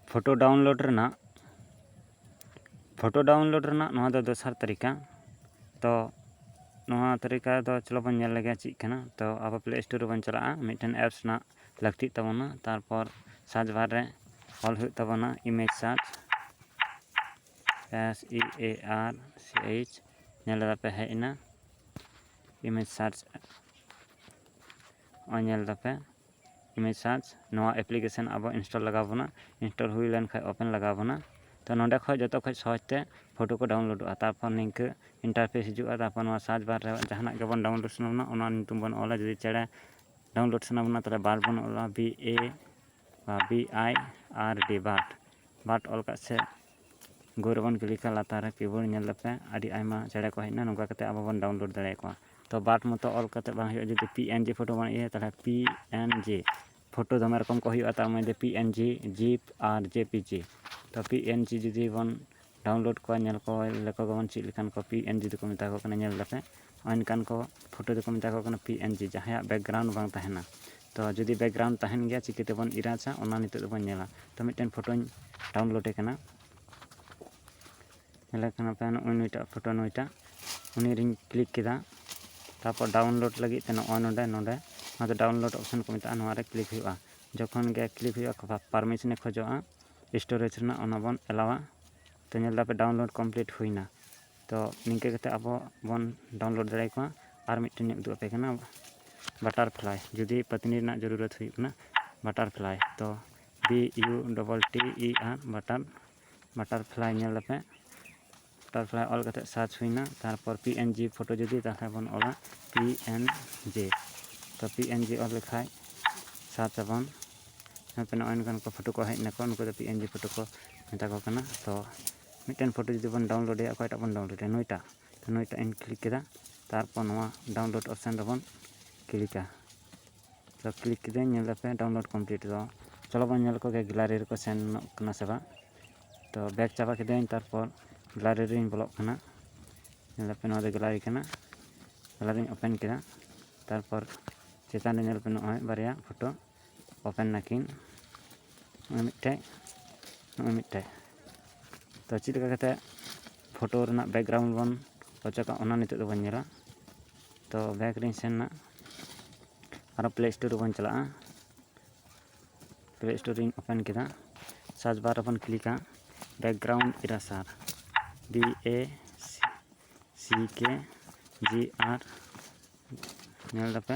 photo download ᱨᱮᱱᱟᱜ photo download ᱨᱮᱱᱟᱜ ᱱᱚᱣᱟ ᱫᱚ ᱫᱚᱥᱟᱨ ᱛᱟᱹᱨᱤᱠᱟ ᱛᱚ ᱱᱚᱣᱟ ᱛᱟᱹᱨᱤᱠᱟ ᱫᱚ ᱪᱚᱞᱚ ᱵᱚᱱ ᱧᱮᱞ ᱞᱮᱜᱮ ᱪᱮᱫ ᱠᱟᱱᱟ ᱛᱚ ᱟᱵᱚ ᱯᱞᱮ ᱥᱴᱳᱨ ᱨᱮᱵᱚᱱ ᱪᱟᱞᱟᱜᱼᱟ ᱢᱤᱫᱴᱮᱱ ᱮᱯᱥ ᱨᱮᱱᱟᱜ ᱞᱟᱹᱠᱛᱤᱜ ᱛᱟᱵᱚᱱᱟ ᱛᱟᱨᱯᱚᱨ ᱥᱟᱨᱪ ᱵᱟᱨ ᱨᱮ ᱚᱞ ᱦᱩᱭᱩᱜ ᱛᱟᱵᱚᱱᱟ image search S E A R C H ᱧᱮᱞ ᱫᱟᱯᱮ ᱦᱮᱡ ᱮᱱᱟ ᱤᱢᱮᱡᱽ ᱥᱟᱨᱪ ᱱᱚᱜᱼᱚᱭ ᱧᱮᱞ ᱫᱟᱯᱮ ᱤᱢᱮᱡᱽ ᱥᱟᱨᱪ ᱱᱚᱣᱟ ᱮᱯᱞᱤᱠᱮᱥᱚᱱ ᱟᱵᱚ ᱤᱱᱥᱴᱚᱞ ᱞᱟᱜᱟᱣ ᱵᱚᱱᱟ ᱤᱱᱥᱴᱚᱞ ᱦᱩᱭ ᱞᱮᱱ ᱠᱷᱟᱱ ᱳᱯᱮᱱ ᱞᱟᱜᱟᱣ ᱵᱚᱱᱟ ᱛᱚ ᱱᱚᱸᱰᱮ ᱠᱷᱚᱱ ᱡᱚᱛᱚ ᱠᱷᱚᱱ ᱥᱚᱦᱚᱡᱽ ᱛᱮ ᱯᱷᱳᱴᱳ ᱠᱚ ᱰᱟᱣᱩᱱᱞᱳᱰᱚᱜᱼᱟ ᱛᱟᱨᱯᱚᱨ ᱱᱤᱝᱠᱟᱹ ᱤᱱᱴᱟᱨᱯᱷᱮᱥ ᱦᱤᱡᱩᱜᱼᱟ ᱛᱟᱨᱯᱚᱨ ᱱᱚᱣᱟ ᱥᱟᱨᱪ ᱵᱟᱨ ᱨᱮ ᱡᱟᱦᱟᱱᱟᱜ ᱜᱮᱵᱚᱱ ᱰᱟᱣᱩᱱᱞᱳᱰ ᱥᱟᱱᱟ ᱵᱚᱱᱟ ᱚᱱᱟ ᱧᱩᱛᱩᱢ ᱵᱚᱱ ᱚᱞᱟ ᱡᱩᱫᱤ ᱪᱮᱬᱮ ᱰᱟᱣᱩᱱᱞᱳᱰ ᱥᱟᱱᱟ ᱵᱚᱱᱟ ᱛᱟᱦᱚᱞᱮ ᱵᱟᱨᱰ ᱵᱚᱱ ᱚᱞᱟ ᱵᱤ ᱮ ᱵᱟ B I R D bird bird ᱚᱞ ᱠᱟᱜ ᱥᱮ ᱜᱳ ᱨᱮᱵᱚᱱ ᱠᱞᱤᱠᱟ ᱞᱟᱛᱟᱨ ᱨᱮ ᱠᱤᱵᱳᱨᱰ ᱧᱮᱞ ᱫᱟᱯᱮ ᱟᱹᱰᱤ ᱟᱭᱢᱟ ᱪᱮᱬᱮ ᱠᱚ ᱦᱮᱡ ᱮᱱᱟ ᱱᱚᱝᱠᱟ ᱠᱟᱛᱮ ᱟᱵᱚ ᱵᱚᱱ ᱰᱟᱣᱩᱱᱞᱳᱰ ᱫᱟᱲᱮ ᱟᱠᱚᱣᱟ ᱛᱚ ᱵᱟᱨᱰ ᱢᱚᱛᱚ ᱚᱞ ᱠᱟᱛᱮ ᱵᱟᱝ ᱦᱩᱭᱩᱜᱼᱟ ᱡᱩᱫᱤ ᱯᱤ ᱮᱱ ᱡᱤ ᱯᱷᱳᱴᱳ ᱵᱚᱱ ᱤᱭᱟᱹᱭᱟ ᱛᱟᱦᱚᱞᱮ ᱯᱤ ᱮᱱ ᱡᱤ ᱯᱷᱳᱴᱳ ᱫᱚᱢᱮ ᱨᱚᱠᱚᱢ ᱠᱚ ᱦᱩᱭᱩᱜᱼᱟ ᱛᱟᱨ ᱢᱚᱫᱽᱫᱷᱮ ᱯᱤ ᱮᱱ ᱡᱤ ᱡᱤᱯ ᱟᱨ ᱡᱮ ᱯᱤ ᱡᱤ ᱛᱚ ᱯᱤ ᱮᱱ ᱡᱤ ᱡᱩᱫᱤ ᱵᱚᱱ ᱰᱟᱣᱩᱱᱞᱳᱰ ᱠᱚᱣᱟ ᱧᱮᱞ ᱠᱚ ᱞᱮᱠᱚ ᱜᱮᱵᱚᱱ ᱪᱮᱫ ᱞᱮᱠᱟᱱ ᱠᱚ ᱯᱤ ᱮᱱ ᱡᱤ ᱫᱚᱠᱚ ᱢᱮᱛᱟ ᱠᱚ ᱠᱟᱱᱟ ᱧᱮᱞ ᱫᱟᱯᱮ ᱚᱱᱠᱟᱱ ᱠᱚ ᱯᱷᱳᱴᱳ ᱫᱚᱠᱚ ᱢᱮᱛᱟ ᱠᱚ ᱠᱟᱱᱟ ᱯᱤ ᱮᱱ ᱡᱤ ᱡᱟᱦᱟᱸᱭᱟᱜ ᱵᱮᱠᱜᱨᱟᱣᱩᱱᱰ ᱵᱟᱝ ᱛᱟᱦᱮᱱᱟ ᱛᱚ ᱡᱩᱫᱤ ᱵᱮᱠᱜᱨᱟᱣᱩᱱᱰ ᱛᱟᱦᱮᱱ ᱜᱮᱭᱟ ᱪᱤᱠᱟᱹ ᱛᱮᱵᱚᱱ ᱤᱨᱟᱪᱟ ᱚᱱᱟ ᱱᱤᱛᱚᱜ ᱫᱚᱵᱚᱱ ᱧᱮᱞᱟ ᱛᱚ ᱢᱤᱫᱴᱮᱱ ᱯᱷᱳᱴᱳᱧ ᱰᱟᱣᱩᱱᱞᱳᱰᱮ ᱠᱟᱱᱟ ᱧᱮᱞᱮ ᱠᱟᱱᱟ ᱯᱮ ᱱᱚᱜᱼᱚᱭ ᱱᱩᱭᱴᱟᱜ ᱯᱷᱳᱴᱳ ᱱᱩᱭᱴᱟᱜ ᱩᱱᱤ ᱨᱤᱧ ᱠᱞᱤᱠ ᱠᱮᱫᱟ ᱛᱟᱨᱯᱚᱨ ᱰᱟᱣᱩᱱᱞᱳᱰ ᱞᱟᱹᱜᱤᱫ ᱛᱮ ᱱᱚᱜᱼᱚᱭ ᱱᱚᱰᱮ ᱱᱚᱰᱮ ᱱᱚᱣᱟ ᱫᱚ ᱰᱟᱣᱩᱱᱞᱳᱰ ᱚᱯᱥᱮᱱ ᱠᱚ ᱢᱮᱛᱟᱜᱼᱟ ᱱᱚᱣᱟ ᱨᱮ ᱠᱞᱤᱠ ᱦᱩᱭᱩᱜᱼᱟ ᱡᱚᱠᱷᱚᱱ ᱜᱮ ᱠᱞᱤᱠ ᱦᱩᱭᱩᱜᱼᱟ ᱯᱟᱨᱢᱤᱥᱚᱱᱮ ᱠᱷᱚᱡᱚᱜᱼᱟ ᱥᱴᱳᱨᱮᱡᱽ ᱨᱮᱱᱟᱜ ᱚᱱᱟ ᱵᱚᱱ ᱮᱞᱟᱣᱟ ᱛᱚ ᱧᱮᱞ ᱫᱟᱯᱮ ᱰᱟᱣᱩᱱᱞᱳᱰ ᱠᱚᱢᱯᱞᱤᱴ ᱦᱩᱭᱱᱟ ᱛᱚ ᱱᱤᱝᱠᱟᱹ ᱠᱟᱛᱮᱫ ᱟᱵᱚ ᱵᱚᱱ ᱰᱟᱣᱩᱱᱞᱳᱰ ᱫᱟᱲᱮ ᱟᱠᱚᱣᱟ ᱟᱨ ᱢᱤᱫᱴᱮᱱ ᱤᱧ ᱩᱫᱩᱜ ᱟᱯᱮ ᱠᱟᱱᱟ ᱵᱟᱴᱟᱨ ᱯᱷᱞᱟᱭ ᱡᱩᱫᱤ ᱯᱟᱹᱛᱱᱤ ᱨᱮᱱᱟᱜ ᱡᱟᱹᱨᱩᱨᱚᱛ ᱦᱩᱭᱩᱜ ᱠᱟᱱᱟ ᱵᱟᱴᱟᱨ ᱯᱷᱞᱟᱭ ᱛᱚ B U double T E R butter butterfly ᱧᱮᱞ ᱟᱯᱮ ᱵᱟᱴᱟᱨ ᱯᱷᱞᱟᱭ ᱚᱞ ᱠᱟᱛᱮᱫ ᱥᱟᱨᱪ ᱦᱩᱭᱱᱟ ᱛᱟᱨᱯᱚᱨ ᱯᱤ ᱮᱱ ᱡᱤ ᱯᱷᱳᱴᱳ ᱡᱩᱫᱤ ᱛᱟᱦᱚᱞᱮ ᱵᱚᱱ ᱚᱞᱟ ᱯᱤ ᱮᱱ ᱡᱤ ᱛᱚ ᱯᱤ ᱮᱱ ᱡᱤ ᱚᱞ ᱞᱮᱠᱷᱟᱡ ᱥᱟᱨᱪ ᱟᱵᱚᱱ ᱱᱚᱜᱼᱚᱭ ᱱᱚᱝᱠᱟᱱ ᱠᱚ ᱯᱷᱳᱴᱳ ᱠᱚ ᱦᱮᱡ ᱱᱟᱠᱚ ᱱᱩᱠᱩ ᱫᱚ ᱯᱤ ᱮᱱ ᱡᱤ ᱯᱷᱳᱴᱳ ᱠᱚ ᱢᱮᱛᱟ ᱠᱚ ᱠᱟᱱᱟ ᱛᱚ ᱢᱤᱫᱴᱮᱱ ᱯᱷᱳᱴᱳ ᱡᱩᱫᱤ ᱵᱚᱱ ᱰᱟᱣᱩᱱᱞᱳᱰ ᱮᱫᱟ ᱚᱠᱚᱭᱴᱟᱜ ᱵᱚᱱ ᱰᱟᱣᱩᱱᱞᱳᱰ ᱮᱫᱟ ᱱᱩᱭᱴᱟᱜ ᱛᱚ ᱱᱩᱭᱴᱟᱜ ᱤᱧ ᱠᱞᱤᱠ ᱠᱮᱫᱟ ᱛᱟᱨᱯᱚᱨ ᱱᱚᱣᱟ ᱰᱟᱣᱩᱱᱞᱳᱰ ᱚᱯᱥᱮᱱ ᱨᱮᱵᱚᱱ ᱠᱞᱤᱠᱟ ᱛᱚ ᱠᱞᱤᱠ ᱠᱮᱫᱟᱹᱧ ᱧᱮᱞ ᱞᱮᱯᱮ ᱰᱟᱣᱩᱱᱞᱳᱰ ᱠᱚᱢᱯᱞᱤᱴ ᱫᱚ ᱪᱚᱞᱚ ᱵᱚᱱ ᱧᱮᱞ ᱠᱚᱜᱮ ᱜᱮᱞᱟᱨᱤ ᱨᱮᱠᱚ ᱥᱮᱱᱚᱜ ᱠᱟᱱᱟ ᱥᱮ ᱵᱟᱝ ᱛᱚ ᱵᱮᱠ ᱪᱟᱵᱟ ᱠᱮᱫᱟᱹᱧ ᱛᱟᱨᱯᱚᱨ ᱜᱮᱞᱟᱨᱤ ᱨᱤᱧ ᱵᱚᱞᱚᱜ ᱠᱟᱱᱟ ᱧᱮᱞ ᱞᱮᱯᱮ ᱱᱚᱣᱟ ᱫᱚ ᱜᱮᱞᱟᱨᱤ ᱠᱟᱱᱟ ᱜᱮᱞᱟᱨᱤᱧ ᱳᱯᱮᱱ ᱠᱮᱫᱟ ᱛᱟᱨᱯᱚᱨ ᱪᱮᱛᱟᱱ ᱨᱮ ᱧᱮᱞ ᱯᱮ ᱱᱚᱜᱼᱚᱭ ᱵᱟᱨᱭᱟ ᱯᱷᱳᱴᱳ ᱳᱯᱮᱱ ᱱᱟᱠᱤᱱ ᱱᱚᱜᱼᱚᱭ ᱢᱤᱫᱴᱮᱡ ᱱᱚᱜᱼᱚᱭ ᱢᱤᱫᱴᱮᱡ ᱛᱚ ᱪᱮᱫ ᱞᱮᱠᱟ ᱠᱟᱛᱮ ᱯᱷᱳᱴᱳ ᱨᱮᱱᱟᱜ ᱵᱮᱠᱜᱨᱟᱣᱩᱱᱰ ᱵᱚᱱ ᱚᱪᱚᱜᱟ ᱚᱱᱟ ᱱᱤᱛᱚᱜ ᱫᱚᱵᱚᱱ ᱧᱮᱞᱟ ᱛᱚ ᱵᱮᱠ ᱨᱤᱧ ᱥᱮᱱ ᱮᱱᱟ ᱟᱨᱚ ᱯᱞᱮ ᱥᱴᱳᱨ ᱨᱮᱵᱚᱱ ᱪᱟᱞᱟᱜᱼᱟ ᱯᱞᱮ ᱥᱴᱳᱨ ᱨᱤᱧ ᱳᱯᱮᱱ ᱠᱮᱫᱟ ᱥᱟᱨᱪ ᱵᱟᱨ ᱨᱮᱵᱚᱱ ᱠᱞᱤᱠᱟ ᱵᱮᱠᱜᱨᱟᱣᱩᱱᱰ ᱤᱨᱟᱥᱟᱨ ᱵᱤ ᱮ ᱥᱤ ᱠᱮ ᱡᱤ ᱟᱨ ᱧᱮᱞ ᱫᱟᱯᱮ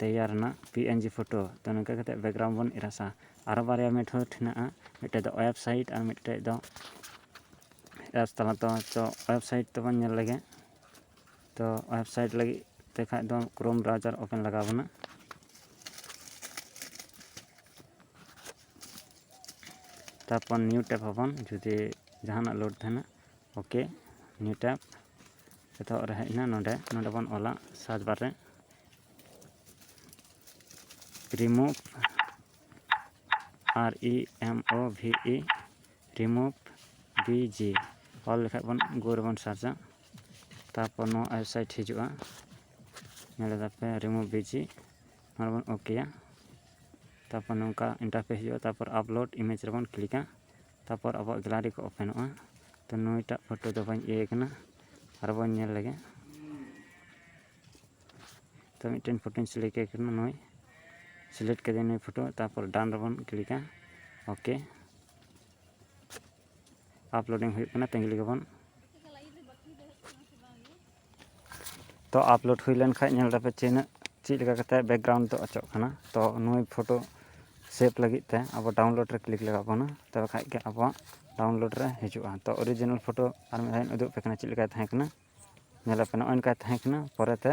ᱛᱮᱭᱟᱨ ᱮᱱᱟ ᱯᱤ ᱮᱱ ᱡᱤ ᱯᱷᱳᱴᱳ ᱛᱚ ᱱᱚᱝᱠᱟ ᱠᱟᱛᱮ ᱵᱮᱠᱜᱨᱟᱣᱩᱱᱰ ᱵᱚᱱ ᱮᱨᱮᱥᱟ ᱟᱨᱚ ᱵᱟᱨᱭᱟ ᱢᱮᱛᱷᱚᱰ ᱦᱮᱱᱟᱜᱼᱟ ᱢᱤᱫᱴᱮᱡ ᱫᱚ ᱚᱭᱮᱵ ᱥᱟᱭᱤᱴ ᱟᱨ ᱢᱤᱫᱴᱮᱡ ᱫᱚ ᱮᱯᱥ ᱛᱟᱞᱟ ᱛᱮ ᱛᱚ ᱚᱭᱮᱵ ᱥᱟᱭᱤᱴ ᱛᱮᱵᱚᱱ ᱧᱮᱞ ᱞᱮᱜᱮ ᱛᱚ ᱚᱭᱮᱵ ᱥᱟᱭᱤᱴ ᱞᱟᱹᱜᱤᱫ ᱛᱮ ᱠᱷᱟᱡ ᱫᱚ ᱠᱨᱳᱢ ᱵᱨᱟᱣᱡᱟᱨ ᱳᱯᱮᱱ ᱞᱟᱜᱟᱣ ᱵᱚᱱᱟ ᱛᱟᱨᱯᱚᱨ ᱱᱤᱭᱩ ᱴᱮᱯ ᱟᱵᱚᱱ ᱡᱩᱫᱤ ᱡᱟᱦᱟᱱᱟᱜ ᱞᱳᱰ ᱛᱟᱦᱮᱱᱟ ᱳᱠᱮ ᱱᱤᱭᱩ ᱴᱮᱯ ᱮᱛᱚᱦᱚᱵ ᱨᱮ ᱦᱮᱡ ᱮᱱᱟ ᱱᱚᱰᱮ ᱱᱚᱰᱮ ᱵᱚᱱ ᱚᱞᱟ ᱥᱟᱨᱪ ᱵᱟᱨ ᱨᱮ remove R E M O V E remove ᱵᱤ ᱡᱤ ᱚᱞ ᱞᱮᱠᱷᱟᱡ ᱵᱚᱱ ᱜᱳ ᱨᱮᱵᱚᱱ ᱥᱟᱨᱪᱟ ᱛᱟᱨᱯᱚᱨ ᱱᱚᱣᱟ ᱳᱭᱮᱵᱽᱥᱟᱭᱤᱴ ᱦᱤᱡᱩᱜᱼᱟ ᱧᱮᱞ ᱮᱫᱟᱯᱮ ᱨᱤᱢᱩᱵᱷ ᱵᱤ ᱡᱤ ᱱᱚᱰᱮ ᱵᱚᱱ ᱳᱠᱮᱭᱟ ᱛᱟᱨᱯᱚᱨ ᱱᱚᱝᱠᱟ ᱤᱱᱴᱟᱨᱯᱷᱮᱥ ᱦᱤᱡᱩᱜᱼᱟ ᱛᱟᱨᱯᱚᱨ ᱟᱯᱞᱳᱰ ᱤᱢᱮᱡᱽ ᱨᱮᱵᱚᱱ ᱠᱞᱤᱠᱟ ᱛᱟᱨᱯᱚᱨ ᱟᱵᱚᱣᱟᱜ ᱜᱮᱞᱟᱨᱤ ᱠᱚ ᱳᱯᱮᱱᱚᱜᱼᱟ ᱛᱚ ᱱᱩᱭᱴᱟᱜ ᱯᱷᱳᱴᱳ ᱫᱚ ᱵᱟᱹᱧ ᱤᱭᱟᱹᱭ ᱠᱟᱱᱟ ᱟᱨ ᱵᱚᱱ ᱧᱮᱞ ᱞᱮᱜᱮ ᱛᱚ ᱢᱤᱫᱴᱮᱱ ᱯᱷᱳᱴᱳᱧ ᱥᱤᱞᱮᱠᱴ ᱮ ᱠᱟᱱᱟ ᱱᱩᱭ ᱥᱤᱞᱮᱠᱴ ᱠᱮᱫᱟᱹᱧ ᱱᱩᱭ ᱯᱷᱳᱴᱳ ᱛᱟᱨᱯᱚᱨ ᱰᱟᱱ ᱨᱮᱵᱚᱱ ᱠᱞᱤᱠᱟ ᱳᱠᱮ ᱟᱯᱞᱳᱰᱤᱝ ᱦᱩᱭᱩᱜ ᱠᱟᱱᱟ ᱛᱟᱺᱜᱤ ᱞᱮᱜᱮ ᱵᱚᱱ ᱛᱚ ᱟᱯᱞᱳᱰ ᱦᱩᱭ ᱞᱮᱱ ᱠᱷᱟᱡ ᱧᱮᱞ ᱫᱟᱯᱮ ᱛᱤᱱᱟᱹᱜ ᱪᱮᱫ ᱞᱮᱠᱟ ᱠᱟᱛᱮ ᱵᱮᱠᱜᱨᱟᱣᱩᱱᱰ ᱫᱚ ᱚᱪᱚᱜ ᱠᱟᱱᱟ ᱛᱚ ᱱᱩᱭ ᱯᱷᱳᱴᱳ ᱥᱮᱵᱷ ᱞᱟᱹᱜᱤᱫ ᱛᱮ ᱟᱵᱚ ᱰᱟᱣᱩᱱᱞᱳᱰ ᱨᱮ ᱠᱞᱤᱠ ᱞᱟᱜᱟᱣ ᱵᱚᱱᱟ ᱛᱚᱵᱮ ᱠᱷᱟᱡ ᱜᱮ ᱟᱵᱚᱣᱟᱜ ᱰᱟᱣᱩᱱᱞᱳᱰ ᱨᱮ ᱦᱤᱡᱩᱜᱼᱟ ᱛᱚ ᱚᱨᱤᱡᱤᱱᱟᱞ ᱯᱷᱳᱴᱳ ᱟᱨ ᱢᱤᱫ ᱫᱷᱟᱣ ᱤᱧ ᱩᱫᱩᱜ ᱟᱯᱮ ᱠᱟᱱᱟ ᱪᱮᱫ ᱞᱮᱠᱟ ᱛᱟᱦᱮᱸ ᱠᱟᱱᱟ ᱧᱮᱞ ᱟᱯᱮ ᱱᱚᱜᱼᱚᱭ ᱱᱚᱝᱠᱟ ᱛᱟᱦᱮᱸ ᱠᱟᱱᱟ ᱯᱚᱨᱮᱛᱮ